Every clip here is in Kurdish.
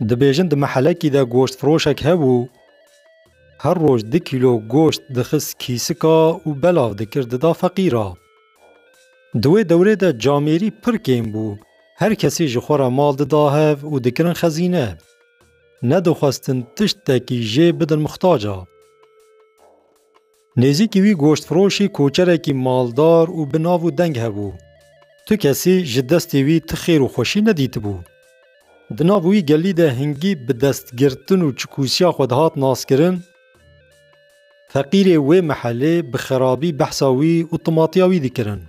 Dibêjin di mehelekî de goştfiroşek hebû, her roj di kîlo goşt dixist kîsika û belav dikir dida feqîra. Di wê dewrê de camêrî pir kêm bû, her kesî ji xwe re mal dida hev û dikirin xezîne. Nedixwestin tiştekî jê bidin mixtaca. Nêzîkî wî goştfiroşî koçerekî maldar û bi nav û deng hebû. Tu kesî ji destê wî ti xêr û xweşî nedîtibû. Di nav wî gelî de hingî bi destgirtin û çikûsiya xwe dihat naskirin. Feqîrê wê mihelê bi xerabî behsa wî û timatiya wî dikirin.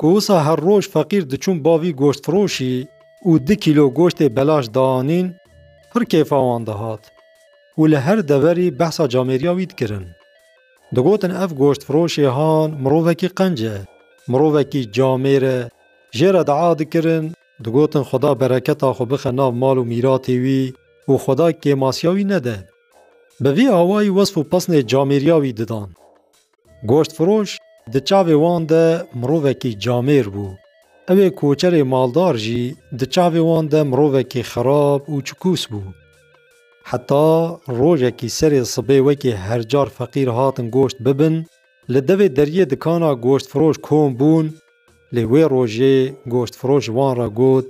Ku wisa her roj feqîr diçûn bavî goştfiroşî û di kîlo goştê belaş daanîn, pir kêfa wan dihat û li her deverî behsa camêriya wî dikirin. Digotin ev goştfiroşê han mirovekî qenc e, mirovekî camêr e, jê re dia dikirin, digotin Xweda bereketa xwe bixe nav mal û mîratê wî û Xweda kêmasiya wî nede. Bi vî awayî wesf û pesnê camêriya wî didan. Goştfiroş di çavê wan de mirovekî camêr bû. Ew ê koçerê maldar jî di çavê wan de mirovekî xerab û çikûs bû. Heta rojekî serê sibê wekî her car feqîr hatin goşt bibin, li devê deriyê dikana goştfiroş kom bûn, lê wê rojê goştfiroş wan re got,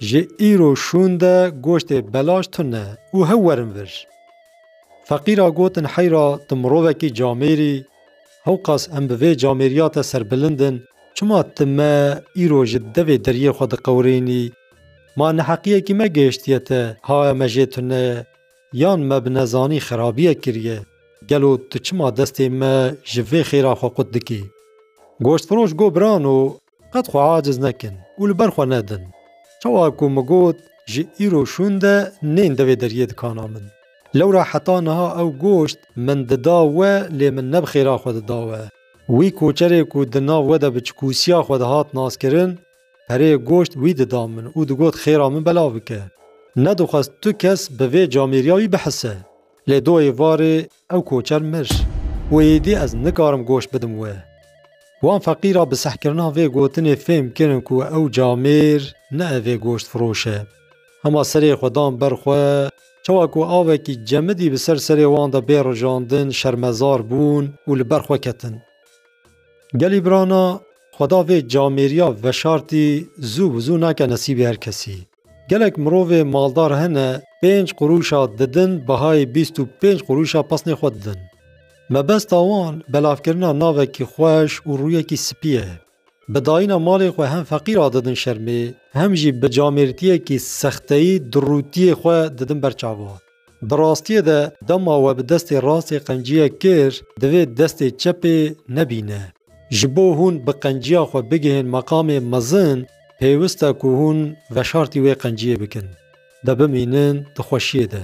Ji îro şûn de goştê belaş tune û hew werin vir. Feqîra gotin heyra tu mirovekî camêr î, hewqas em bi vê camêriya te serbilind in, çima tu me îro ji devê deriyê xwe diqewirênî, ma neheqiyekî me gihiştiye te haya me jê tune ye, yan me bi nezanî xerabiyek kiriye, gelo tu çima destê me ji vê xêra xwe qut dikî? Goştfiroş got birano Qet xwe aciz nekin û li ber xwe nedin. Çawa ku min got ji îro şûnde nên di vê deriyê dikana min. Lewra heta niha ew goşt min dida we lê min ne bi xêra xwe dida we. Wî koçerê ku di nav we de bi çikûsiya xwe dihat naskirin, perê goşt wî dida min û digot xêra min belav bike. Nedixwest tu kes bi vê camêriya wî bihise. Lê doyê varê Ew koçer mir. Wê êdî ez nikarim goş bidim we. Wan feqîra bi sehkirina vê gotinê fêm kirin ku ew camêr ne ev ê goştfiroş e. Hema serê xwe dan ber xwe, çawa ku avekî cemidî bi ser serê wan de bê rijandin şermezar bûn û li ber xwe ketin. Gelî birana, xweda vê camêriya veşartî zû bi zû nake nesîbê her kesî. Gelek mirovê maldar hene pênc qurûşa didin bihayê bîst û pênc qurûşa pesnê xwe didin. Mebesta wan belavkirina navekî xweş û rûyekî spî ye. Bi dayîna malê xwe hem feqîr a didin şermê hem jî bi camêrtiyekî sexteyî dirûtiyê xwe didin ber çavan. Di rastiyê de dema we bi destê rastê qenciyek kir, divê destê çepê nebîne. Ji bo hûn bi qenciya xwe bigihên meqamê mezin, pêwist e ku hûn veşartî wê qenciyê bikin. De bimînin di xweşiyê de.